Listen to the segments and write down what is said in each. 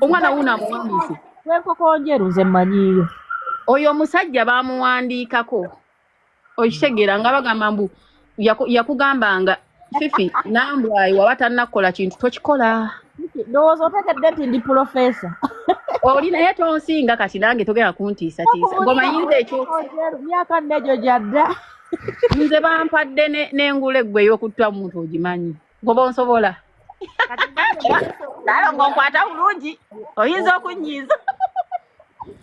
omwana wuuno amuwandiise wekokonjeru nze manyiyo oyo omusajja bamuwandiikako okitegeera nga bagamba mbu yakugambanga fifi nambwayi waba tannakukola kintu tokikola ndowooza otegedde nti ndi pulofesa oli naye tonsinga kati nange togenda kuntiisatiisa ngomayinza ekyo myaka nnejo gyadda nze bampadde n'engula eggwe ey'okutta omuntu ogimanyi ngoba onsobola naye ngaokwata bulungi oyinza okunyiiza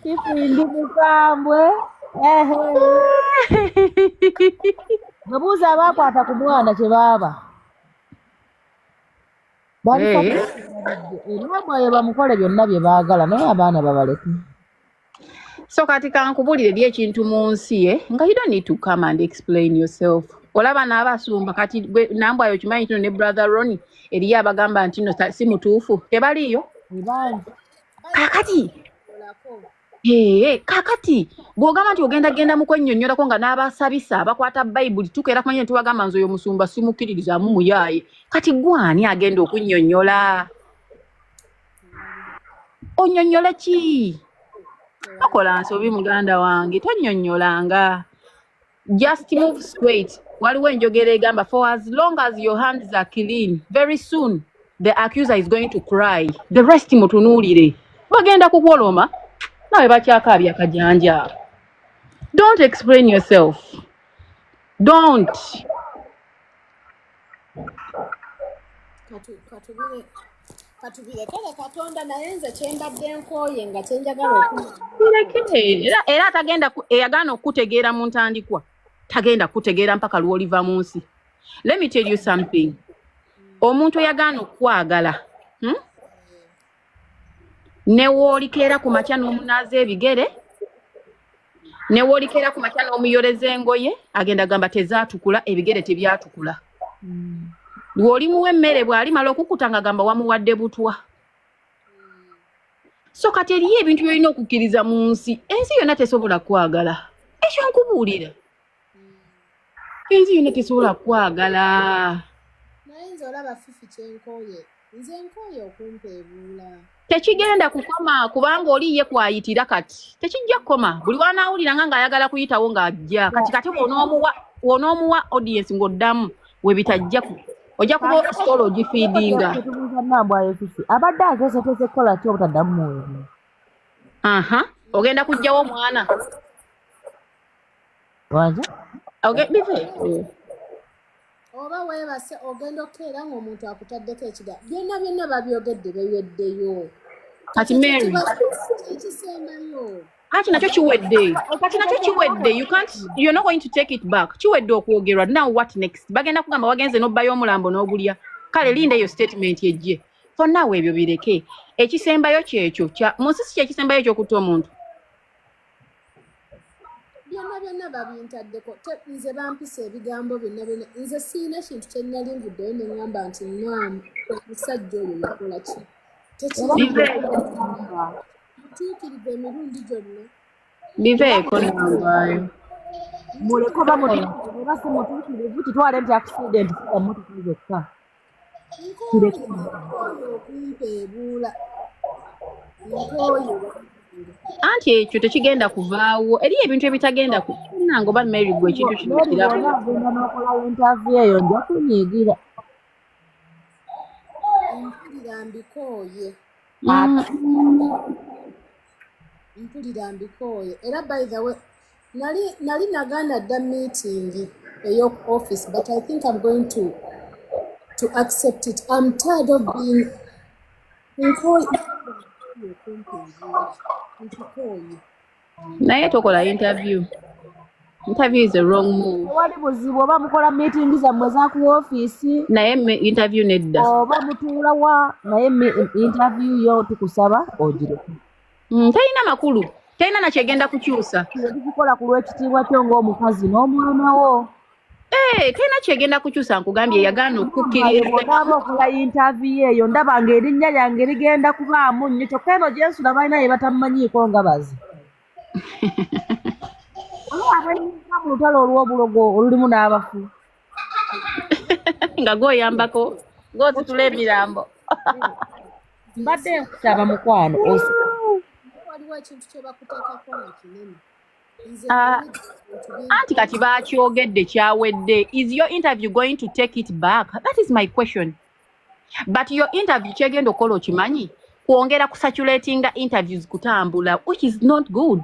kifindi mukambwe webuuza abaakwata ku mwana kye baaba baliabayo bamukole byonna bye baagala naye abaana babaleke so kati kankubulire eri ekintu mu nsi ye eh? nga you don't need to come and explain yourself olaba n'abasumba kati gwe nambwayo okimanyi kino ne brother roni eriyo abagamba nti no si mutuufu tebaliyo kakati Ee, kakati bw'ogamba nti ogenda genda mu kwennyonnyolako nga n'abasabisa bakwata bayibuli tukeera kumanya nti wagamba nze oyo musumba simukkiririzaamu muyaaye kati gwani agenda okunnyonnyola onyonyola ki tokola nsobi muganda wange tonyonyolanga just move straight waliwo enjogera egamba for as long as your hands are clean very soon the accuser is going to cry the rest mutunuulire bagenda kukwoloma nawe bakyakaabya kajanja don't explain yourself don't katubireke katonda naye nze kyembadde nkooye nga kyenjagala era atagenda eyagaana okukutegeera mu ntandikwa tagenda kukutegeera mpaka lwoliva mu nsi let me tell you something omuntu eyagaana okukwagala hmm? newoolikeera ku makya n'omunaaza ebigere newoolikeera ku makya n'omuyoleza engoye agenda gamba tezaatukula ebigere tebyatukula mm. wolimuwa emmere bwalimala okukuta nga gamba wamuwadde butwa so kati eriyo ebintu byolina okukkiriza mu nsi ensi yonna tesobola kwagala ekyo nkubuulira ensi yona tesobola kwagala naye nze olaba fifi kyenkoye nze nkoye okumpa ebuula tekigenda kukoma kubanga oli ye kwayitira kati tekijja kukoma buli wanaawulira nga ng'ayagala kuyitawo ng'ajja kati kati wonoomuwa wonoomuwa audience ng'oddamu we bitajja ojja kuba ositoola ogifiidinga abadde ageseteze kukola ki obutaddamu muweebi aha ogenda kujjawo omwana ogenda eh. oba weebase ogenda okukeera ng'omuntu akutaddeko ekiga byonna byonna babyogedde beweddeyo kati mary ekisembayo kati nakyo kiwedde kati nakyo kiwedde you can't you're not going to take it back kiwedde okwogerwa now what next bagenda kugamba wagenze n'obbayo omulambo n'ogulya kale linda eyo statement ejje for now ebyo bireke ekisembayo kyekyo mu nsi si kyekisembayo ekyokutta omuntu byonna byonna babintaddeko nze bampisa ebigambo byonna byonna nze sirina kintu kyenali nvuddeyo ne ŋŋamba nti naamu omusajja oyo yakola ki tekimutuukiriza emirundi gyonna biveeko nambaayo muleke oba mutuukirivu kitwale nti akusidenti emotoka zokka nkooye nkooye okumpeebuula nkooye anti ekyo tekigenda kuvaawo eriyo ebintu ebitagenda kunanga oba mary gwe ekintu kino kirabo agenda nokola intavi eyo nja kunyigira mpulira mbikooye mpulira mbikooye era by the way nali nali naganda dda meeting eyoku office but i think im going to to accept it im tired of being nkikooye naye tokola interview interview is a wrong move wali buzibu oba mukola meeting zammwe zaku office naye interview nedda oba mutuula wa naye interview yo tukusaba ogireke mm, talina makulu talina nakyegenda kukyusa kikola ku lwekitiibwa kyo ngaomukazi n'omwana wo Hey, eh, tena kyegenda kukyusa nkugambye yagaana okukkirizaaba okola yintaviyu eyo ndaba nga erinnya lyange ligenda kubaamu nnyo kyokka eno gyensula balina ye batamumanyiiko nga bazi abalinga mu lutalo olw'obulogo olulimu n'abafu nga gwoyambako gwozitula emirambo mbadde nkusaba mukwano waliwo ekintu kyebakuteekako ekinene ah, anti kati bakyogedde kyawedde is your interview going to take it back that is my question but your interview kyegenda okukola okimanyi kwongera kusaturatinga interviews kutambula which is not good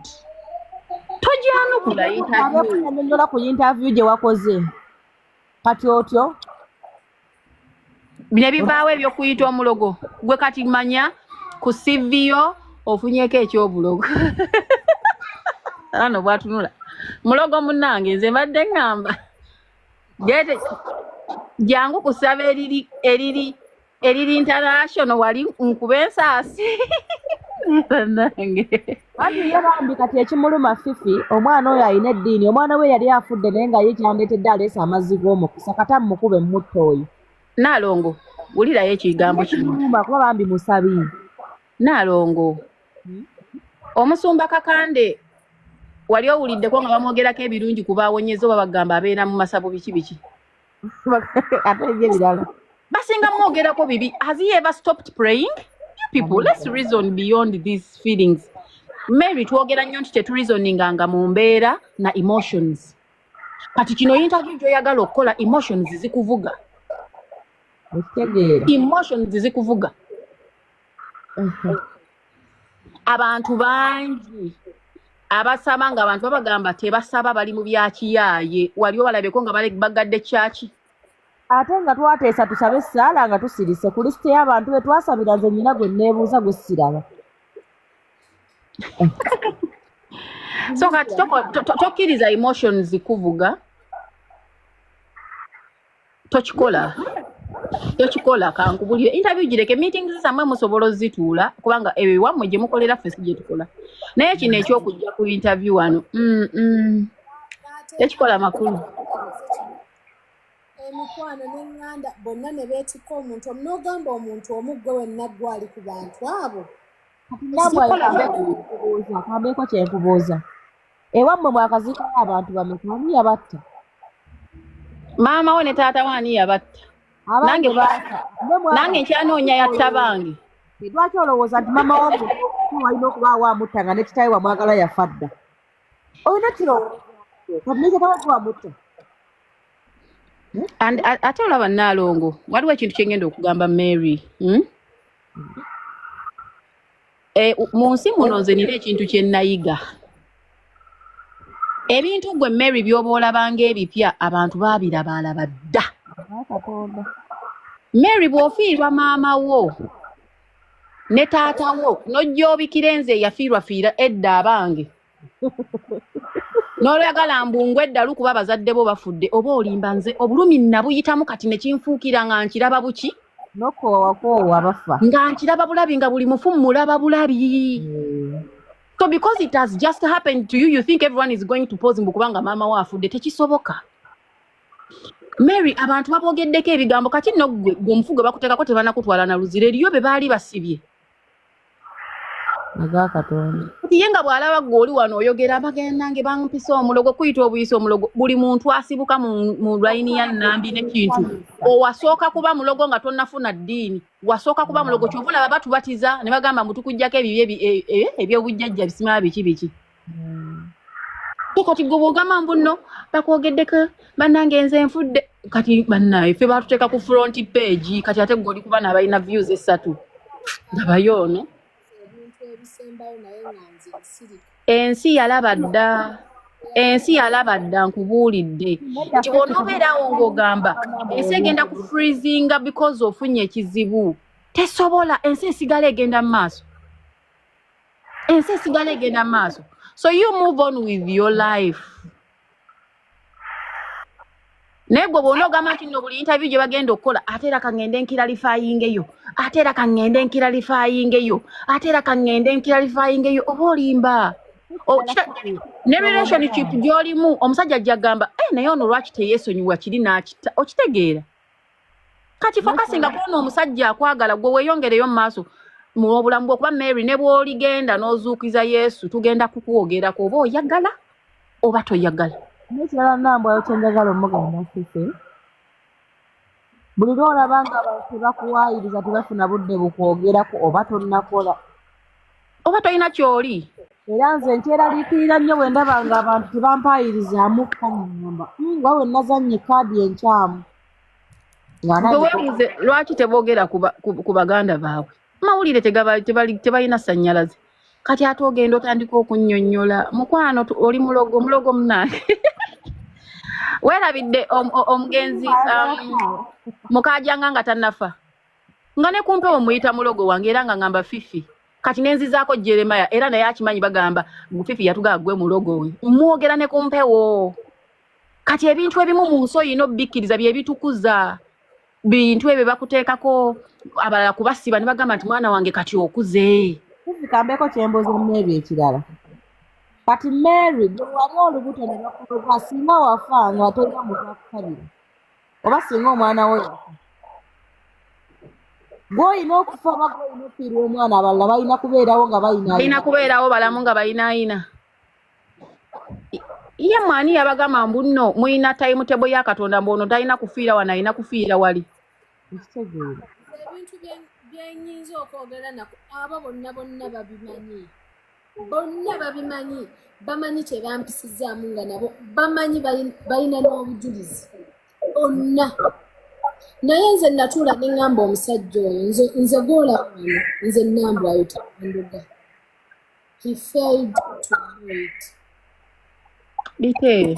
tojanukula interviewnyonyola ku interview gye wakoze kati otyo ne bivaawo ebyokuyita omulogo gwe kati manya ku siviyo ofunyeko ekyobulogo ano bwatunula mulogo munange nze mbadde ngamba Gete jangu kusaba eriri eriri eriri international wali nkuba ensaasi nange anti ye bambi kati ekimuluma fifi omwana oyo alina eddiini omwana we yali afudde naye nga ye kyandeetedde aleesa amazzi g'omukisa kata mumukube mumutta oyo naalongo wulirayo ekigambo kino kuba bambi musabi Naalongo hmm? omusumba Kakande wali owuliddeko nga bamwogerako ebirungi kuba awonyeza oba bagamba abeera mu masabo biki biki ebirala basinga mwogerako bibi has he ever stopped praying you people let's reason beyond these feelings mary twogera nnyo nti tetureasoninga nga mu mbeera na emotions kati kino interview gyoyagala okukola emotions zikuvuga emotions zikuvuga abantu bangi abasaba nga abantu babagamba tebasaba bali mu byakiyaaye wali obalabeko nga bagadde kyaki ate nga twateesa tusabe essaala nga tusirise ku lisite y'abantu be twasabira nze nyina gwe neebuuza gwe siraba so kati tokkiriza emotions kuvuga tokikola tokikola kankubulire interview gireke meetings zamwe musobola ozituula kubanga ebyo iwammwe gye mukolera ffe si gye tukola naye kino ekyokujja ku interview wano mm, mm. tekikola makulu emikwano n'enganda bonna ne beetikka omuntu omu n'ogamba omuntu omu gwe wenna gwe ali ku bantu abo kabeeko kyenkubuuza Ewammwe mwakaziikawo abantu bameka ani yabatta? Maama wo ne taata wo ani yabatta? Nange nange nkyanoonya yatta bange. Lwaki olowooza nti maama wo walina okubaawo amutta nga ne kitaawe wamwagala yafa dda? Olina kirowooza kati ne kitaawe gwe wamutta? And ate olaba Nnaalongo waliwo ekintu kye ngenda okugamba Mary. Hmm? Eh, mu nsi muno nze nina ekintu kye nayiga ebintu gwe mary byoba olabanga ebipya abantu babirabaalaba dda mary bw'ofiirwa maama wo ne taata wo nojja obikira enze eyafiirwafiira edda abange n'oyagala mbungu eddalu kuba abazadde bo bafudde oba olimba nze obulumi nabuyitamu kati nekinfuukira nga nkiraba buki nokuwawakoowa bafa nga nkiraba bulabi nga buli mufu mulaba bulabi hmm. so because it has just happened to you you think everyone is going to pose mbu kubanga maama wo afudde tekisoboka mary abantu babwogeddeko ebigambo kati nno gwe omufugo bakuteekako tebanakutwala na luzira eriyo be baali basibye ye nga bw'alaba gwe oli wano oyogera abagenda nge bampisa omulogo kuyita obuyisa omulogo buli muntu asibuka mu layini ya nnambi nekintu owasooka kuba mulogo nga tonnafuna ddiini wasooka kuba mulogo kyova olaba batubatiza ne bagamba mbu tukugyako ebibi e, e, ebyobujjajja bisima biki biki Ko kati gwe bwogamba mbu nno bakwogeddeko bannange nze nfudde kati bannaye ffe baatuteeka ku front page kati ate gwe oli kuba naabalina views essatu ndabayo ono ebintu ebisembayo naye nga nze nsirika ensi yalaba dda ensi yalaba dda nkubuulidde nti bw'onoobeerawo ng'ogamba ensi egenda ku freezinga because ofunye ekizibu tesobola ensi esigala egenda mu maaso ensi esigala egenda maaso so you move on with your life naye gwe bwona ogamba nti no buli interview gye bagenda okukola ate era kaŋŋende nkiralifayingeyo ate era kaŋŋende nkiralifayingeyo ate era kaŋŋende nkiralifayingeyo oba olimba oh, ne relationship gyolimu omusajja ajja gamba eh, naye ono lwaki teyesonyiwa kiri n'akita okitegeera kati fokasinga kuona omusajja akwagala gwe weyongereyo mu maaso mu obulamu bwokuba mary ne bwoligenda n'ozuukiza yesu tugenda kukwogerako oba oyagala oba toyagala nekirala nambwayo kyenjagala omugamba sise buli lwolaba nga abantu tebakuwayiriza tebafuna budde bukwogerako oba tonakola oba tolina kyoli era nze nkyeraliikirira nnyo bwe ndaba nga abantu tebampaayirizamu kanyamba hmm, nga we nazannye kaadi enkyamu wewebuuze lwaki teboogera ku baganda baabwe amawulire tebalina sannyalaze kati ate ogenda otandika okunnyonnyola mukwano oli mulogo mulogo munange weerabidde omugenzi um, mukaajanga nga tannafa nga ne kumpewo muyita mulogo wange era nga ngamba fifi kati nenzizaako jeremaya era naye akimanyi bagamba fifi yatugaa gwe mulogo oyo mwogera ne kumpewo kati ebintu ebimu mu nsi oyina obikkiriza byebitukuza bintu ebyo bakuteekako abalala kubasiba ne bagamba nti mwana wange kati okuze kambeeko kyembuuza mu ebyo ekirala kati mary gwe wali olubuto ne bakuloga singa wafa nga tolina mutakukabira oba singa omwana wo yafa gwolina okufa oba gwolina okufiirwa omwana abalala balina kubeerawo nga balina kubeerawo balamu nga balinaayina ye mwani yabagamba mbu nno mulina tayimu tebo ya katonda mbu ono talina kufiira wano alina kufiira wali ebintu byenyinza okwogera nako abo bonna bonna babimanyi bonna babimanyi bamanyi tebampisizaamu nga nabo bamanyi balina n'obujulizi bonna naye nze natuula ne ŋŋamba omusajja oyo nze goola wano nze nnambwayo taanduga he failed to do it biteeyo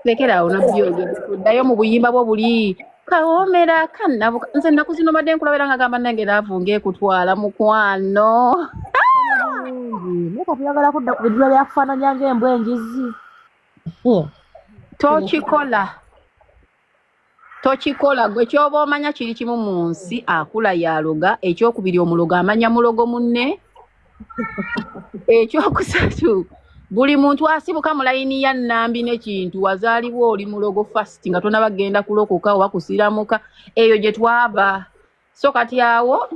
lekera awo nabyogera ddayo mu buyimba bwo buli kawomera kanabuka nze ennaku zino mbadde nkulaba era nga gamba nange laavu ng'ekutwala mukwano naye kati yagala kudda ku bidiba byakufaananya ng'embwa enjizi tokikola tokikola gwe kyoba omanya kiri kimu mu nsi akula yaloga ekyokubiri omulogo amanya mulogo munne ekyokusatu buli muntu asibuka mu layini ya nnambi nekintu wazaalibwa oli mulogo fast nga tonaba kugenda kulokoka oba kusiramuka eyo gye twava so kati awo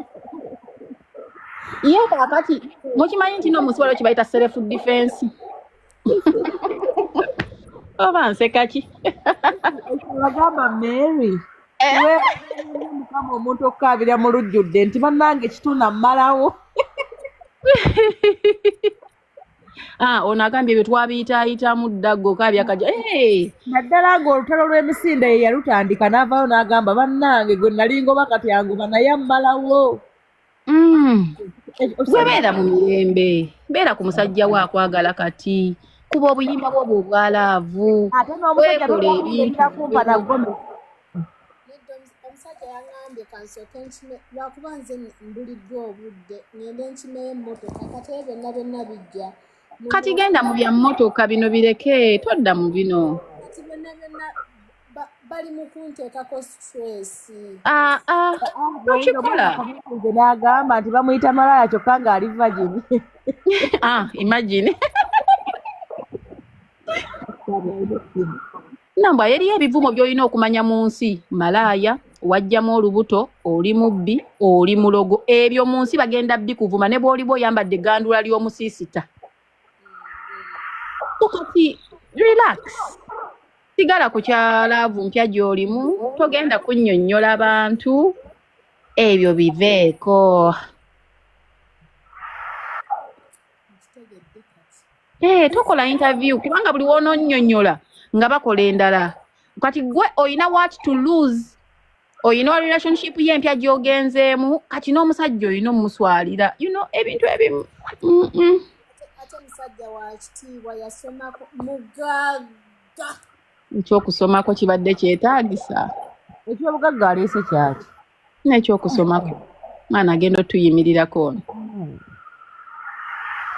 ye kakati mukimanyi nti no musiwalo kibayita self defense oba nsekaki agamba mary eh? mukama omuntu okukaabira mu lujjudde nti bannange kituna mmalawo Ah, ono agambye ebyo twabiyitaayitamu dda goka byakaja naddala nga olutalo lw'emisinde ye yalutandika n'avaayo n'agamba bannange gwe nali ngoba kati angoba naye ammalawo mm. gwe beera mu mirembe beera ku musajja we akwagala kati kuba obuyimba bwo bwo obwalaavu weekole ebintu nedda omusajja yangambye kansooke nkime lwakuba nze mbuliddwa obudde ngende nkimeyo emmotoka kati ebyo byonna byonna bijja kati genda mu bya mmotoka bino bireke todda mu bino kati byonna byonna bali mu kunteekako stress ah, ah, okikola nze n'agamba nti bamuyita malaya kyokka ng'ali vagini ah, imagine nambwa eriyo ebivumo byolina okumanya mu nsi malaaya wajjamu olubuto oli mubbi oli mulogo ebyo mu nsi bagenda bikuvuma ne bwoliba oyambadde egandula ly'omusiisita kati relax sigala ku kyalaavu mpya gy'olimu togenda kunnyonnyola bantu ebyo biveeko Eh, tokola interview kubanga buli wononyonyola nga bakola endala kati gwe oyina what to lose oyina wa relationship ye empya gyogenzeemu kati n'omusajja oyina omuswalira you know ebintu ebimu ekyokusomako kibadde kyetagisa ekyobugagga aleese kyaki nekyokusomako mwana agenda otuyimirirako ono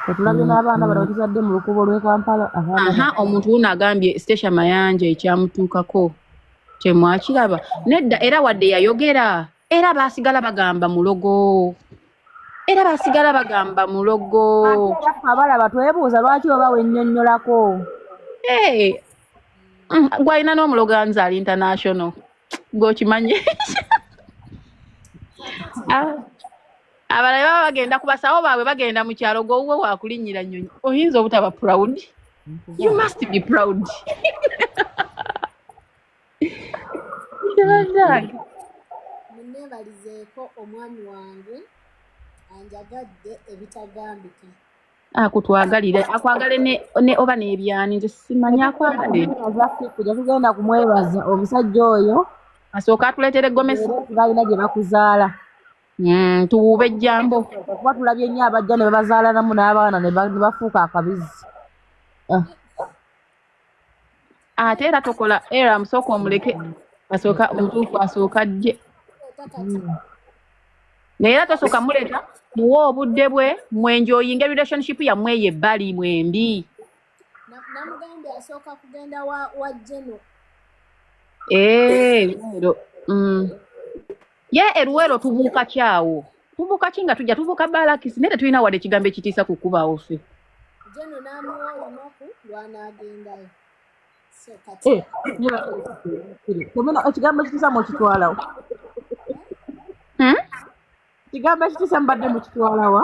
tetulabye mm, n'abaana bano mm. batuzadde mu lukubo lw'e kampala aha omuntu wuno agambye stacia mayanja ekyamutuukako kyemwakiraba nedda era wadde yayogera era baasigala bagamba mulogo era baasigala bagamba mulogo abalaba twebuuza lwaki oba wennyonnyolako eh, mm, gwalina n'omulogo anzaali international gwe okimanyi abalala baba bagenda ku basawo baabwe bagenda mu kyalo gwowuwe wakulinnyira nnyonyi oyinza obutaba proud you must be proud munneebalizeeko omwami wange anjagadde ebitagambika akutwagalire akwagale ne, ne oba n'ebyani nze simanyi akwagale kujja tugenda kumwebaza omusajja oyo asooka atuleetere gomesi balina gye bakuzaala mm, tuwuuba ejjambo kuba tulabye nnyo abajja ne babazaalanamu n'abaana ne bafuuka akabizi ah. ate era tokola era musooka omuleke asooka omutuufu asooka jje naye era tosooka muleeta muwe obudde bwe mwenjoyinga relationship yammwe eyo ebbali mwembi namugambye asooka kugenda wa jeno eero eh, mm. ye eruwero tubuuka kyawo tubuuka ki nga tujja tubuuka balakisi naye tetulina wadde ekigambo ekitiisa ku kubawo ffe jeno n'amuwa olunaku lw'anaagendayo eh, ekigambo ekitiisa mukitwalawo hmm? ekigambo ekitiisa mbadde mukitwalawa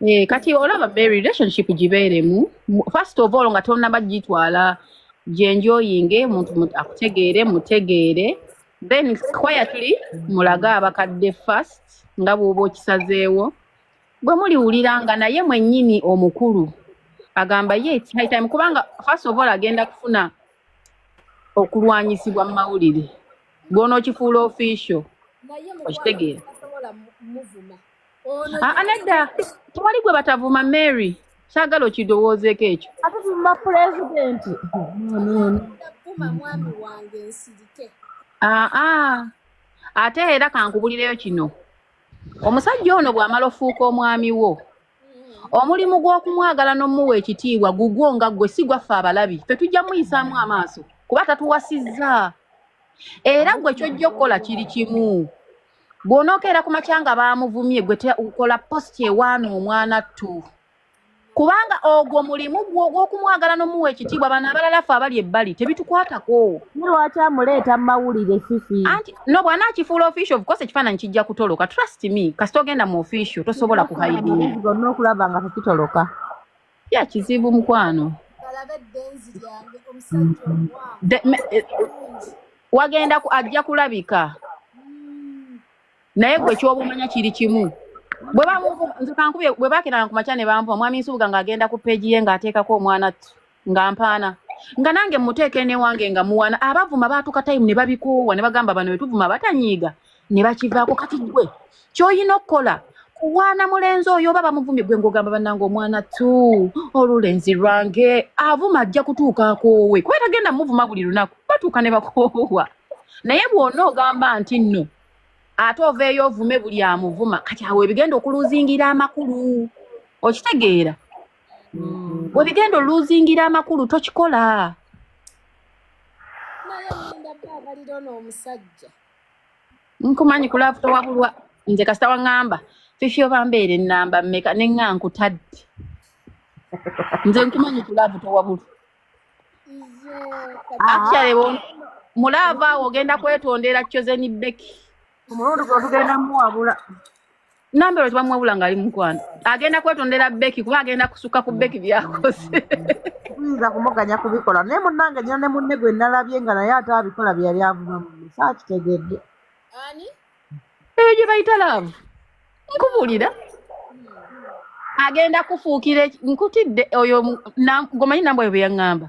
Eh, kati olaba be relationship gibeeremu first of all nga tonaba gitwala gyenjoyinge omuntu akutegeere mutegeere then quietly mulage abakadde first nga bwoba okisazeewo bwe muliwulira nga naye mwennyini omukulu agamba ye it's high time kubanga first of all agenda kufuna okulwanyisibwa mu mawulire gwonookifuula official okitegeera nedda tewali gwe batavuma mary kyagala okidowoozeeko ekyo atuvuma pulezidenti aa ate era kankubulireyo kino omusajja ono bw'amala ofuuka omwami wo omulimu gw'okumwagala n'omuwa ekitiibwa gugwo nga ggwe si gwaffe abalabi fe tujja muyisaamu amaaso kuba tatuwasizza era ggwe kyojja okukola kiri kimu bw'onookeera ku makya nga baamuvumye gwe tukola post ewaana omwana ttu kubanga ogwo mulimu gwo ogw'okumwagala n'omuwa ekitiibwa bano abalala ffe abali ebbali tebitukwatako lwaki amuleeta mu mawulire fifi anti no bwana akifuula official of course ekifaananyi kijja kutoloka trust me kasita ogenda mu official tosobola kuhaidinga okulaba nga tekitoloka ya kizibu mukwano eh, wagenda ajja kulabika hmm. naye gwe kyobumanya kiri kimu bwebankubye bwe bakiranga ku makya ne bampa omwami nsubuga ng'agenda ku peegi ye ng'ateekako omwana nga mpaana nga nange muteeka enewange nga muwana abavuma baatuka tayimu ne babikoowa ne bagamba bano bwe tuvuma batanyiiga ne bakivaako kati gwe kyolina okukola kuwaana mulenzi oyo oba bamuvumye gwe ngogamba banange omwana tu olulenzi lwange avuma ajja kutuuka akoowe kuba tagenda muvuma buli lunaku batuuka ne bakoowa naye bwona ogamba nti nno ate oveeyo ovume buli amuvuma kati awo ebigenda okuluzingira amakulu okitegeera mm. webigenda oluzingira amakulu tokikola naye linda baabalira ono omusajja nkumanyi ku laavu towabulwa nze kasita waŋŋamba fifi oba mbeera ennamba mmeka ne ŋŋa nkutadde nze nkumanyi ku laavu towabulwa actually mu laavu awo ogenda kwetondera chozeni beki omulundi gwe tugenda muwabula nambero tebamuwabula ngaali mukwano agenda kwetondera beki kuba agenda kusukka ku beki byakoze tuyinza kumuganya kubikola naye munange nyina ne munne gwe nalabye nga naye ate abikola byeyali avuma munne saakitegedde eyo gye bayita laavu nkubuulira agenda kufuukira nkutidde oyo gomanyi nambwa yo bwe yaŋŋamba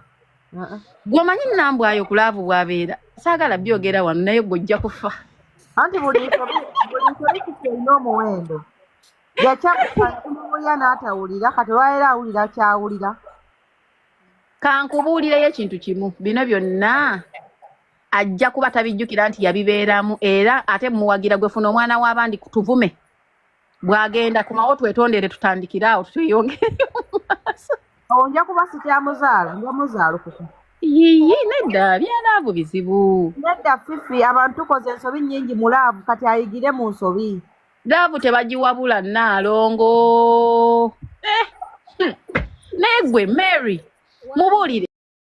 gwomanyi nambwayo kulaavu bwabeera saagala byogera wano naye gwojja kufa anti buli nsobi kikyolina omuwendo yakyakuya n'atawulira kati olwaleero awulira kyawulira kankubuulireyo ekintu kimu bino byonna ajja kuba tabijjukira nti yabibeeramu era ate muwagira gwefuna omwana w'abandi tuvume bwagenda kumawo twetondere tutandikire awo tweyongere mumaaso onja kuba sikyamuzaala nja muzaala okuku yiyi nedda byalaavu bizibu nedda fifi abantu tukoze ensobi nyingi mu laavu kati ayigire mu nsobi laavu tebagiwabula naalongo eh, hmm. naye gwe mary mubuulire